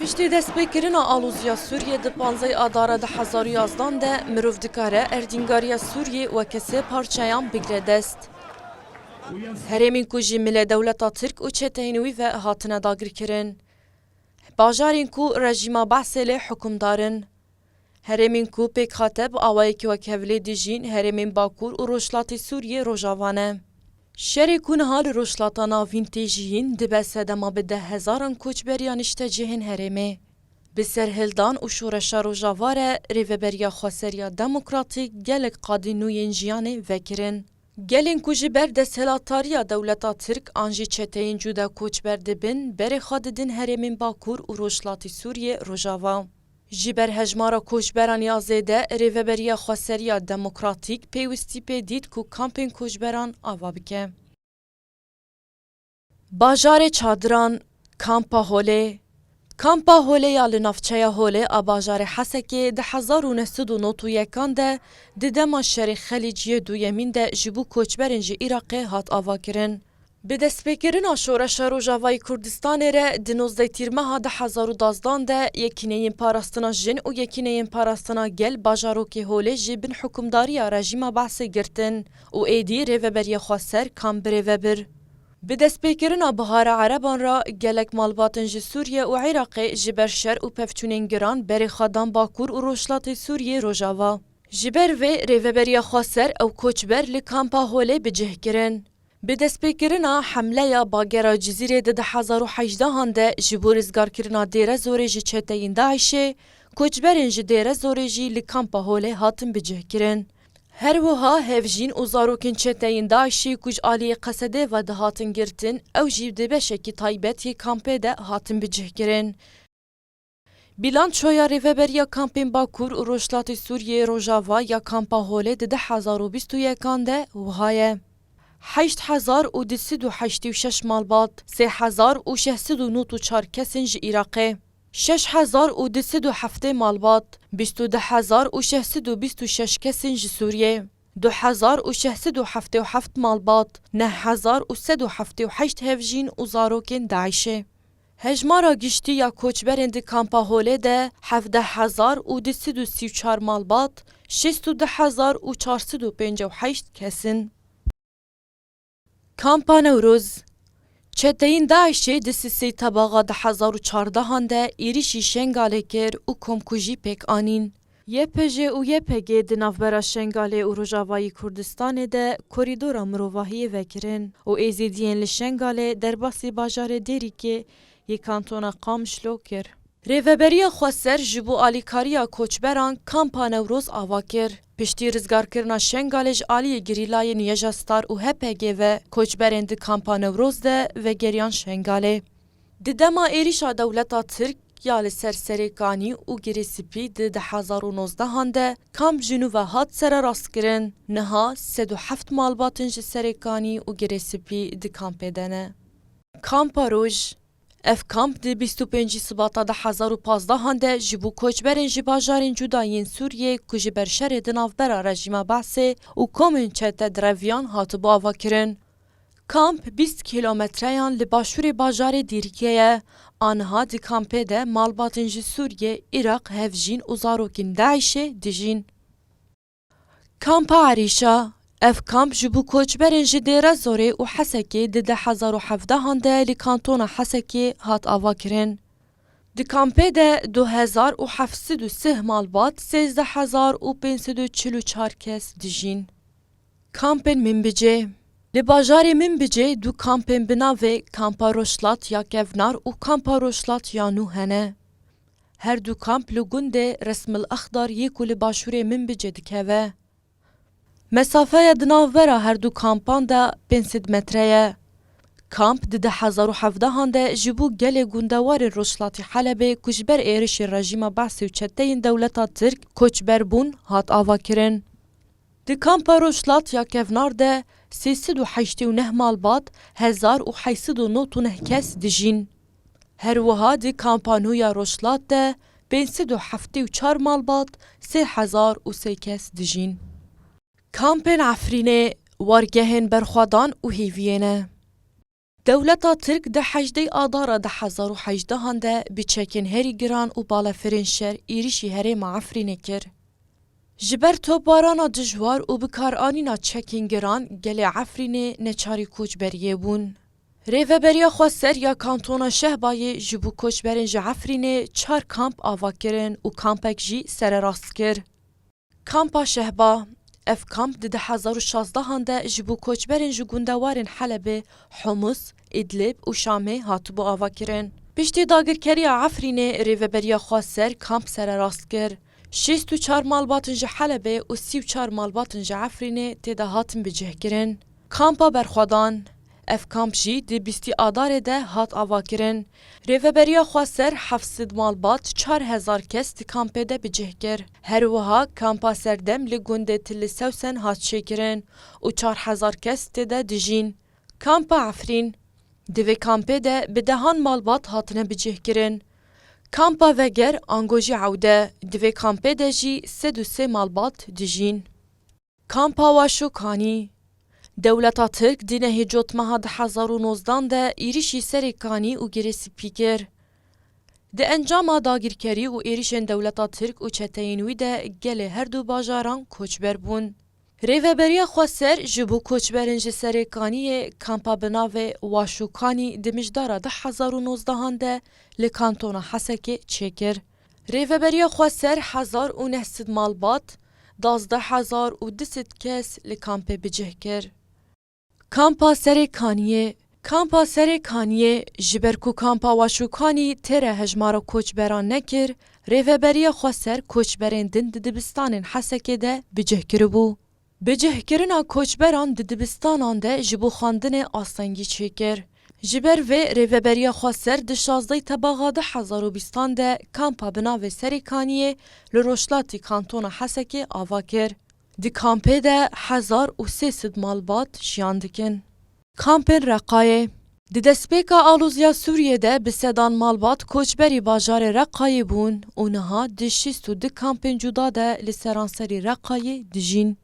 Piştî destpêkirina aloziya Sûriyê di panzey Adara di hezar û yazdan de mirov dikare erdîngariya Sûriyê weke sê parçeyan bigire dest. Herêmên ku ji mile dewleta Tirk û çeteyên wî ve hatine dagirkirin. Bajarên ku rejîma Be'sê lê hukimdar in. Herêmên ku pêk hate bi awayekî wek hevlê dijîn herêmên Bakur û Rojhilatê Sûriyê Rojava ne. Şerê ku niha li Rojhilata Navîn tê jiyîn dibe sedema bi deh hezaran koçber ya niştecihên herêmê. Bi serhildan û şoreşa Rojava re Rêveberiya Xweseriya Demokratîk gelek qadên nû yên jiyanê vekirin. Gelên ku ji ber desthilatariya dewleta Tirk an jî çeteyên cûda koçber dibin berê xwe didin herêmên Bakur û Rojhilatê Sûriyê Rojava. Ji ber hejmara koçberan ya zêde, Rêveberiya Xweseriya Demokratîk pêwistî pê dît ku kampên koçberan ava bike. Bajarê Çadiran, Kampa Holê Kampa Holê ya li navçeya Holê a bajarê Hesekê di hezar û neh sed û nod û yekan de di dema şerê Xelîc yê duyemîn de ji bo koçberên ji Îraqê hat avakirin. Bi destpêkirina Şoreşa Rojavayî Kurdistanê re di nozdeh Tîrmeha du hezar û dazdan de Yekîneyên Parastina Jin û Yekîneyên Parastina Gel bajarokê holê jî bin hukimdariya rejîma Baasê girtin û êdî rêveberiya xwe ser kam birêve bir. Bi destpêkirina Bihara Ereban re gelek malbatên ji Sûriye û Iraqê ji ber şer û pevçûnên giran berê xwe dan Bakur û Rojhilatê Sûriyê Rojava. Ji ber vê rêveberiya xwe ser ew koçber li kampa holê bi cih kirin. Bi destpêkirina hemleya bagera Cizîrê di di hezar û hejdehan de ji bo rizgarkirina Dêrezorê ji çeteyên DAIŞ'ê, koçberên ji Dêrezorê jî li Kampa Holê hatin bicihkirin. Her wiha hevjîn û zarokên çeteyên DAIŞ'ê ku ji aliyê Qesedê ve dihatin girtin ew jî di beşekî taybet yê kampê de hatin bicihkirin. Bîlançoya Rêveberiya Kampên Bakur û Rojhilatê Sûriyeyê Rojava ya Kampa Holê di deh hezar û bîst û yekan de wiha ye, Heşt hezar û du sed û heştê û şeş malbat, sê hezar û şeş sed û nod û çar kes in ji Îraqê, şeş hezar û du sed û heftê malbat, bîst û du hezar û şeş sed û bîst û şeş kes in ji Sûriyê, du hezar û şeş sed û heftê û heft malbat, neh hezar û sed û heftê û heşt hevjîn û zarokên DAIŞ'ê. Hejmara giştî ya koçberên di Kampa Holê de hevdeh hezar û du sed û sî û çar malbat, şêst û du hezar û çar sed û pênc û heşt kes in. Kampa Newroz, Çeteyên DAIŞ'ê di Sisê Tebaxa du hezar û çardehan de êrîşî Şengalê kir û komkujî pêk anîn. YPJ û YPG di navbera Şengalê û Rojavayî Kurdistanê de korîdora mirovahiyê vekirin û Êzîdiyên li Şengalê derbasî bajarê Dêrîkê yê kantona Qamişlo kir. Rêveberiya Xweser ji bo alîkariya koçberan Kampa Newroz ava kir. Piştî rizgarkirina Şengalê ji aliyê gerîlayên Yeja Star û HPG'ê ve koçberên di Kampa Newroz de vegeriyan Şengalê. Di dema êrîşa dewleta Tirk ya li ser Serê Kanî û Girê Sipî di di hezar û nozdehan de Kamp Jinûve hat sererastkirin, niha sed û heft malbatin ji Serê Kanî û Girê Sipî di kampê de ne. Kampa Roj, Ev kamp di bîst û pêncî Sibata di hezar û pazdehan de ji bo koçberên ji bajarên cuda yên Sûriyê ku ji ber şerê di navbera rejîma Be'sê û komên çete di reviyan hatibû avakirin. Kamp bîst kîlometreyan li başûrê bajarê Dîrkê ye. Aniha di kampê de malbatên ji Sûriyê, Iraq, hevjîn û zarokên DAIŞ'ê dijîn. Kampa Erîşa, Ev kamp ji bo koçberên ji Dêrezorê û Hesekê di di hezar û hevdehan de li kantona Hesekê hat avakirin. Di kampê de du hezar û heft sed û sih malbat, sêzdeh hezar û pênc sed û çil û çar kes dijîn. Kampên Minbicê Li bajarê Minbicê du kampên bi navê Kampa Rojhlat ya Kevnar û Kampa Rojhlat ya Nû hene. Her du kamp li gundê Resmil Axdar yê ku li başûrê Minbicê dikeve. Mesafeya di navbera her du kampan de pênc sed metre ye. Kamp di du hezar û hevdehan de ji bo gelê gundewarên rojhilatî Helebê ku ji ber êrişên rejîma Be'sî û çeteyên dewleta Tirk koçber bûn hat avakirin. Di kampa Rojhilat ya kevnar de sê sed û heştê û neh malbat, hezar û heşt sed û nod û neh kes dijîn. Her wiha di kampa nû ya Rojhilat de pênc sed û heftê û çar malbat, sê hezar û sê kes dijîn. Kampên Efrînê wargehên berxwedan û hêviyê ne. Dewleta Tirk di hejdê Adara du hezar û hejdeh an de bi çekên herî giran û balefirên şer êrîşî herêma Efrînê kir. Ji ber topbarana dijwar û bikaranîna çekên giran gelê Efrînê neçarî koçberiyê bûn. Rêveberiya Xweser ya Kantona Şehbayê ji bo koçberên ji Efrînê çar kamp ava kirin û kampek jî sererast kir. Kampa Şehba, Ev kamp di di hezar û şazdehan de ji bo koçberên ji gundewarên Helebê, Humus, Îdlib û Şamê hatibû avakirin. Piştî dagirkeriya Efrînê rêveberiya xwe ser kamp sererast kir. Şêst û çar malbatin ji Helebê û sî û çar malbatin ji Efrînê tê de hatin bicihkirin. Kampa Berxwedan, Ev kamp jî di bîstî Adarê de hat avakirin. Rêveberiya Xweser heft sed malbat çar hezar kes di kampê de bi cih kir. Her wiha kampa Serdem li gundê Tilli Sewsen hat çêkirin û çar hezar kes tê de dijîn. Kampa Efrîn, Di vê kampê de bi dehan malbat hatine bi cih kirin. Kampa Veger ango jî ewde, di vê kampê de jî sed û sê malbat dijîn. Kampa Waşokanî, Dewleta Tirk di nehê cot meha di hezar û nozdan de êrişî serê Kanî û Girê Sipî kir. Di encama dagîrkerî û êrişên dewleta Tirk û çeteyên wî de gelê her du bajaran koçber bûn. Rêveberiya Xweser ji bo koçberên ji serê Kaniyê kampa bi navê Waşokanî di mijdara du hezar û nozdehan de li kantona Hesekê çêkir. Rêveberiya xwe ser hezar û neh sed malbat, dazdeh hezar û du sed kes li kampê bicih kir. Kampa Serê Kaniyê Kampa Serê Kaniyê ji ber ku Kampa Waşûkanî tê re hejmara koçberan nekir, rêveberiya xwe ser koçberên din di dibistanên Hesekê de bicih kiribû. Bi cihkirina koçberan di dibistanan de ji bo xwendinê astengî çêkir. Ji ber vê Rêveberiya Xweser di şazdeh tebaxa du hezar û bîstan de kampa bi navê Serêkaniyê li rojhilatî kantona Hesekê ava kir. Di kampê de hezar û sê sed malbat jiyan dikin. Kampên Reqayê Di destpêka alozya Sûriyê de bi sedan malbat koçberî bajarê Reqayê bûn û niha di şîst û du kampên cuda de li seranserî Reqayê dijîn.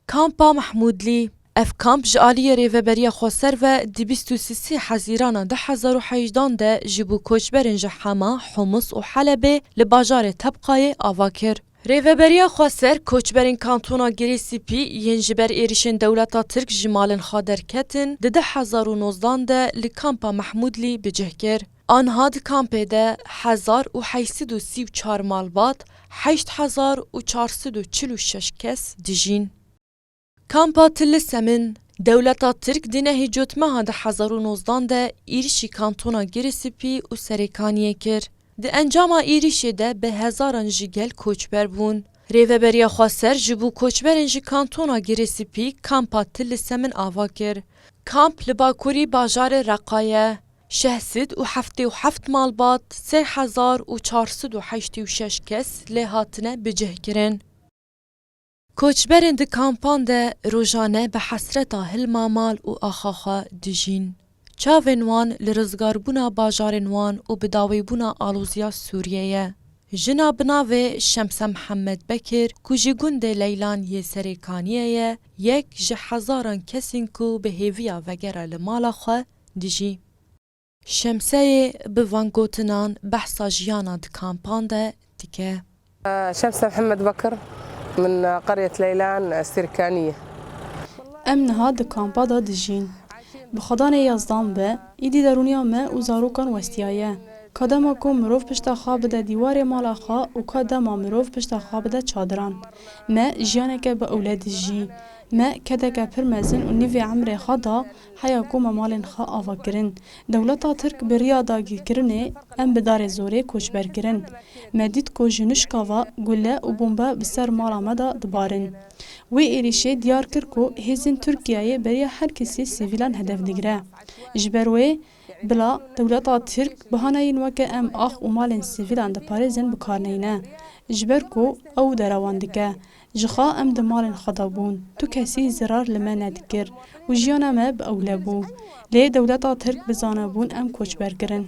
Kampa Mehmûdlî Ev kamp ji aliyê Rêveberiya Xweser ve di bîst û sisê Hezîrana du hezar û heyjdan de ji bo koçberên ji Hema, Humus û Helebê li bajarê Tebqayê ava kir. Rêveberiya Xweser, koçberên kantona Girê Sipî yên ji ber êrîşên dewleta Tirk ji malên xwe derketin di du hezar û nozdan de li Kampa Mehmûdlî bi cih kir. Anha di kampê de hezar û heşt sed û sî û çar malbat, heşt hezar û çar sed û çil û şeş kes dijîn. Kampa Tilisemin, Dewleta Tirk di nehê cotmeha di hezar û nozdan de êrişî kantona Girisipî û Serêkaniyê kir. Di encama êrişê de bi hezaran ji gel koçber bûn. Rêveberiya Xweser ji bo koçberên ji kantona Girisipî Kampa Tilisemin ava kir. Kamp li bakurî bajarê Reqa ye. Şeh sid û heftê û heft malbat, sê hezar û çar sid û heştê û şeş kes lê hatine bicihkirin. Koçberên di kampan de rojane bi hesreta hilma mal û axa xwe dijîn. Çavên wan li rizgarbûna bajarên wan û bi dawîbûna aloziya Sûriyê ye. Jina bi navê Şemse Mihemed Bekir ku ji gundê Leylan yê Serê Kaniyê ye, yek ji hezaran kesên ku bi hêviya vegera li mala xwe dijî. Şemseyê bi van gotinan behsa jiyana di kampan de dike. Şemse Mihemed Bekir, Min Qeryet Leylan Sirkani ye. Em niha di kampa de dijîn. Bi xwedanê Yazdan ve, îdî derûniya me û zarokan westiyaye. Ka dema ku mirov pişta xwe bide dîwarê mala xwe û ka dema mirov pişta xwe bide çadiran. Me jiyaneke bi ewle dijî. Me kedeke pir mezin û nîvê emrê xwe da Heya ku me malên xwe ava kirin, dewleta Tirk bi riya dagîrkirinê em bi darê zorê koçber kirin. Me dît ku ji nuşka ve gule û bombe bi ser mala me de dibarin. Wê êrîşê diyar kir ku hêzên Tirkiyeyê beriya her kesî sivîlan hedef digire. Ji ber wê bila dewleta Tirk bihaneyên weke em ax û malên sivîlan diparêzin bi kar neyne. Ji ber ku ew derewan dike, Ji xwe em di malên xwe de bûn, tu kesî zirar li me nedikir û jiyana me bi ewle bû. Lê dewleta Tirk bizane bûn em koçber kirin.